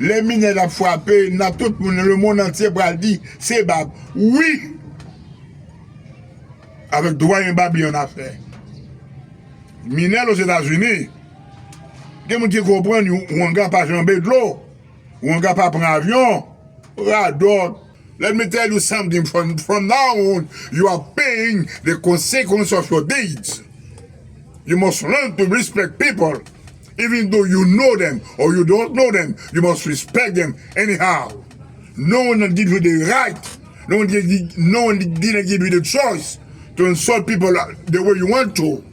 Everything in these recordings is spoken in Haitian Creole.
Lè minèt ap frape nan tout moun nan lemond antye pral di se bab wi avèk dwayen bab li annafè minèt ozetazini gen moun ki konprann wanga pa janbe dlo wanga pa pran avyon radòt. Let me tell you something from now on you are paying the consequence of your deeds you must learn to respect people even though you know them or you don't know them you must respect them anyhow no one give you the right no one give you the choice to insult people the way you want to.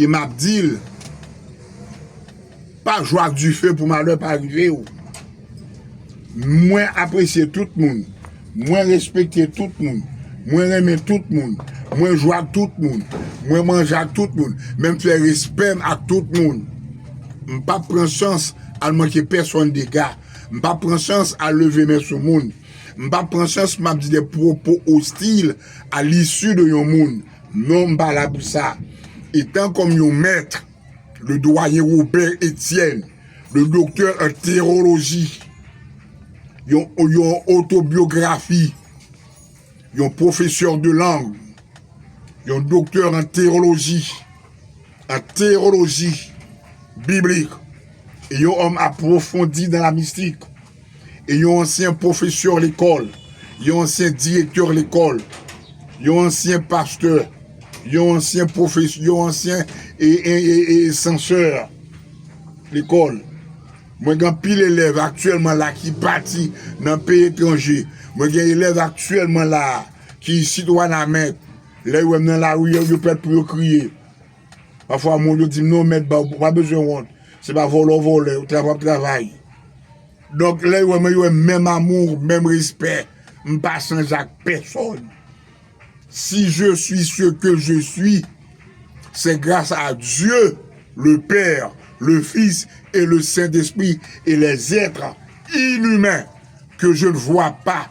E map dil. Pa jwe ak dife pou malè pa rive ou. Mwen apresye tout moun. Mwen respekte tout moun. Mwen renmen tout moun. Mwen jwe ak tout moun. Mwen manje ak tout moun. Men m fè respè m ak tout moun. M pap pran chans al manke pèsonn dega. M pap pran chans al leve men sou moun. M pap pran chans map di de pwopo ostil a lisi de yon moun. Non, m pa la pou sa. Etan kòm yon mèt, le Doyen Robert Etienne, le doktè an teyoloji, yon otobyografi, yon pwofesè de lang, yon doktè an teyoloji, an teyoloji biblik, e yon òm apwofondi nan la mistik. E yon ansyen pwofesè lekòl, yon ansyen direktè lekòl, yon ansyen pastè, yon ansyen pwofesè, yon ansyen sansè lekòl. Mwen gen anpil elèv aktyèlman la ki pati nan peyi etranje. Mwen gen elèv aktyèlman la ki isit Wanament. Lè yo wè m nan lari, yo pèt pou yo kriye. Pafwa moun yo dim non mèt baw pa bezwen wont se pa vòlò vòlè yo travay ap travay donk lè yo wè mwen yo wèm menm amour menm respè m pa chanje ak pèsòn si je suis ce que je suis c'est grâce à Dieu le père le fils et le saint esprit et les etres inhumains que je ne vois pas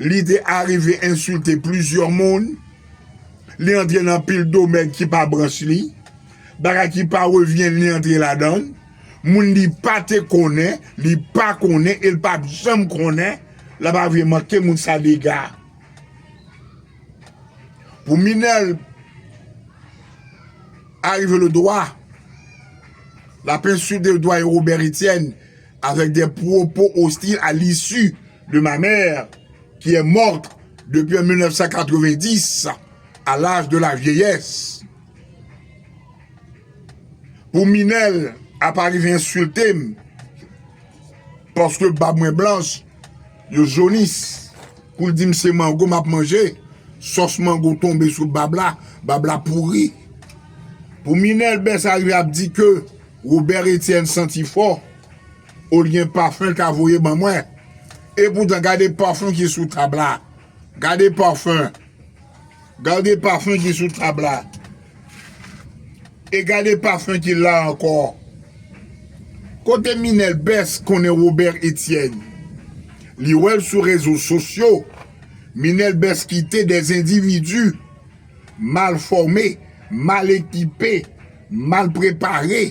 Li te arive ensilte plizyè moun, li antre nan pil domèn ki pa branch li, bagay ki pa revyen li antre ladan, moun li pa te konnen, li pa konnen e li pa p janm konnen, l ap arive manke moun sa dega. Pou Minel arive le dwa, l ap ensilte doyen Robert Etienne avèk de pwopo ostil a lisi. de ma mère qui est morte depi an 1990 a laj de la vyeyès pou minèl ap arive ensilte m paske bab mwen blanch yo jonis pou l di m se mango m ap manje sòs mango tonbe sou bab la bab la pouri pou minèl bès arive ap di ke Robert Etienne santi fò. Ou t gen parfum ta voye ban mwen. Epoutan gade parfum ki sou tab la. Gade parfum. Gade parfum ki sou tab la. E gade parfum ki la ankò. Kote Minel Best konnen Robert Etienne. Li wèl sou rezo sosyo. Minel Best kite des individus mal formes, mal ekipe, mal prepare.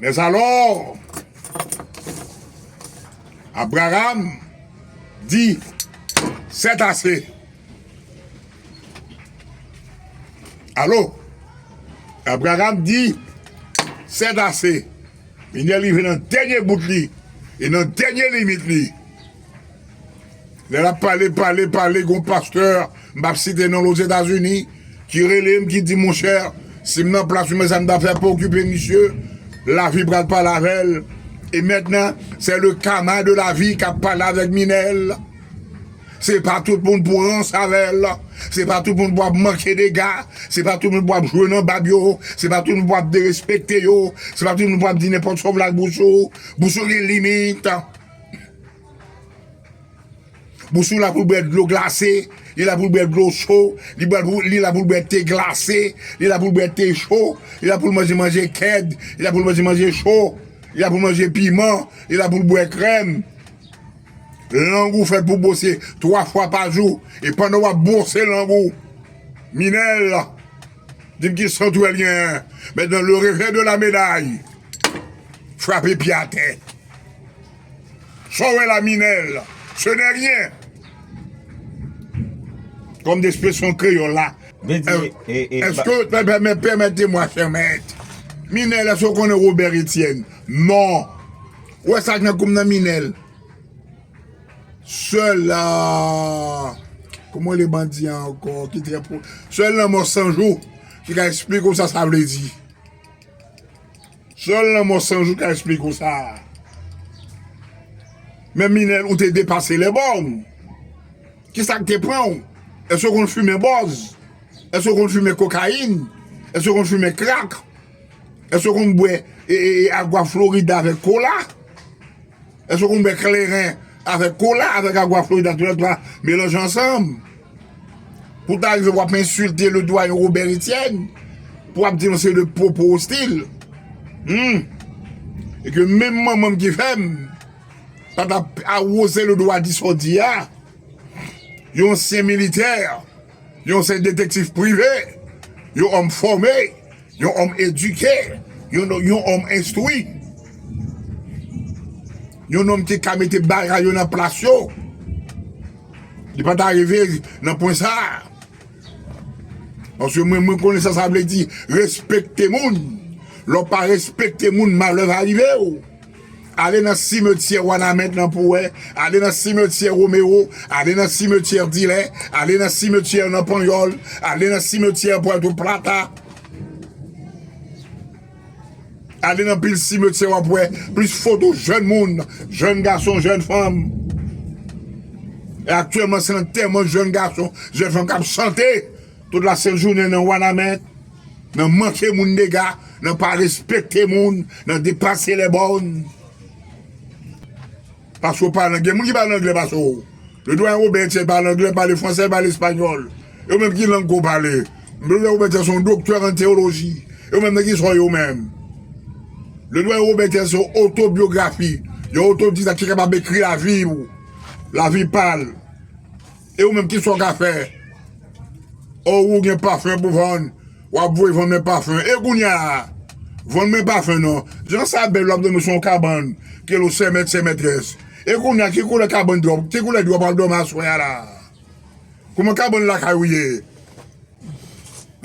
Mèzalò, Abraram di, Sètase! Alo? Abraram di, Sètase! Minyè rive nan dènye bout li e nan dènye limit li. Lè l ap pale, pale, pale, gen yon pastè, m pap site non l, Ozetazini, ki rele m, ki di m, monchè, si m nan plas ou men sa m ta fè pou okipe misye, lavi pral pale avè l. E mètnan, sè le kama de lavi k ap pale avèk Minèl. Se pa tout moun pou rans avè l, se pa tout moun pou ap manke dega, se pa tout moun pou ap jwe nan bab yo, se pa tout moun pou ap derespekte yo, se pa tout moun pou ap di nenpòt sa w vle ak bouch ou. Bouch ou gen limit. Bous ou la pou l bwè dlo glase, li la pou l bwè dlo cho, li bwè pou, li la pou l bwè te glase, li la pou l bwè te cho, li la pou l manje manje kèd, li la pou l manje manje cho, li la pou l manje piman, li la pou l bwè krèm. Lang ou fèt pou bwose 3 fwa pa jou, e pandan w ap bwose lang ou, Minel, di m ki sant ou wè l genyen? Mèt nan le revè de la meday, frape pye atè. Sa w wè la Minel, ce n'est rien! Kòm de espresyon kreyòl la, èske, pèmètemwa chè mèt, Minel, èske w konnen Robert Etienne? Non! Ou wè sa k nan kou m nan Minel? Sèl, kouman w rele bandi an ankò ki trè po, sèl lanmò sanjou ki ka esplike w sa sa vle di. Sèl lanmò san jou ka esplike w sa. Men Minel ou te depase lè bòm. Kisa k te pran w? Èske w konn fimen bòz? Èske w konn fimen kokayin? Èske w konn fimen krak? Èske w konn bwè agwa florida avèk kola? Èske w konn bwè kleren avèk kola, avèk agwa florida tou lè twa melanje ansanm? Pou ta rive w ap ensilte le dwayen Robert Etienne pou w ap di l yon seri de pwopo ostil. Hum! E ke menm manman m ki fè m pa ta awoze le dwa di sa w di a, yon ansyen militè, yon ansyen detektif prive, yon òm fòme. Yon òm edike, yon òm enstwi, yon nonm ki ka mete bagay yo nan plas yo, li pa ta rive nan pwen sa a. Paske mwen konnen sa sa vle di respekte moun. Lè w pa respekte moun malè va rive w. Ale nan simetyè Wanament lan pou wè, ale nan simetyè Romero, ale nan simetyè Dilè, ale nan simetyè nan Panyòl, ale nan simetyè Puerto Plata, ale nan pil simetyè w ap wè plis foto jèn moun, jèn gason, jèn fanm. E aktyèlman se lantèman jèn gason, jèn fanm k ap chante tout lasent jounen nan Wanament. Nan manke moun dega, nan pa respekte moun, nan depase lè bòn. Pase w pale angle. Moun ki pale angle pase w. Le Doyen Robert-Etienne pale angle, l pale franse, l pale espanyòl. E ou menm ki lang ke w pale? Le Doyen Robert-Etienne se yon doktè an teyoloji. E ou menm nan ki sa w ye ou menm? Le Doyen Robert-Etienne se yon otobyografi. Yon otodidak ki kapab ekri lavi ou. Lavi pa l. E ou menm kisa ou ka fè? Oh ou gen parfum pou vann wap voye vann men parfum e kounya vann men parfum non jan sa bèl wap domi sou yon kabann ke lo sè mèt sè mètrès e kounya ki koulè kabann dròp ki koulè dròp wap domi aswè a la kouman kabann lakay ou ye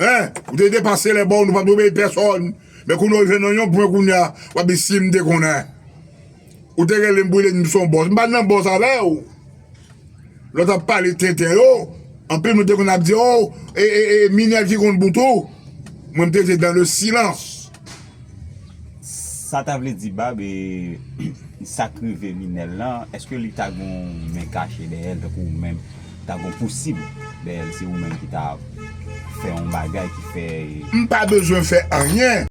hein ou te depase lè bon nou pat obeye pèsòn men kounya ou jwenn nan yon pwen kounya wap di sim te konnen. Ou te rele m pou w di m se yon bòs. M pa t nan bòs avè w. Lòt ap pale tenten yo. Anpil moun te konn ap di o, e, e, e, Minel ki konn bout ou. Mwen m te rete dans le silence. Sa ta vle di Bab, e, sa k rive Minel lan, èske li ta gen yon men kache dèyè l tankou ou menm? Ta gen yon pousib dèyè l, se ou menm ki ta fè yon bagay ki fè. M pa bezwen fè anyen.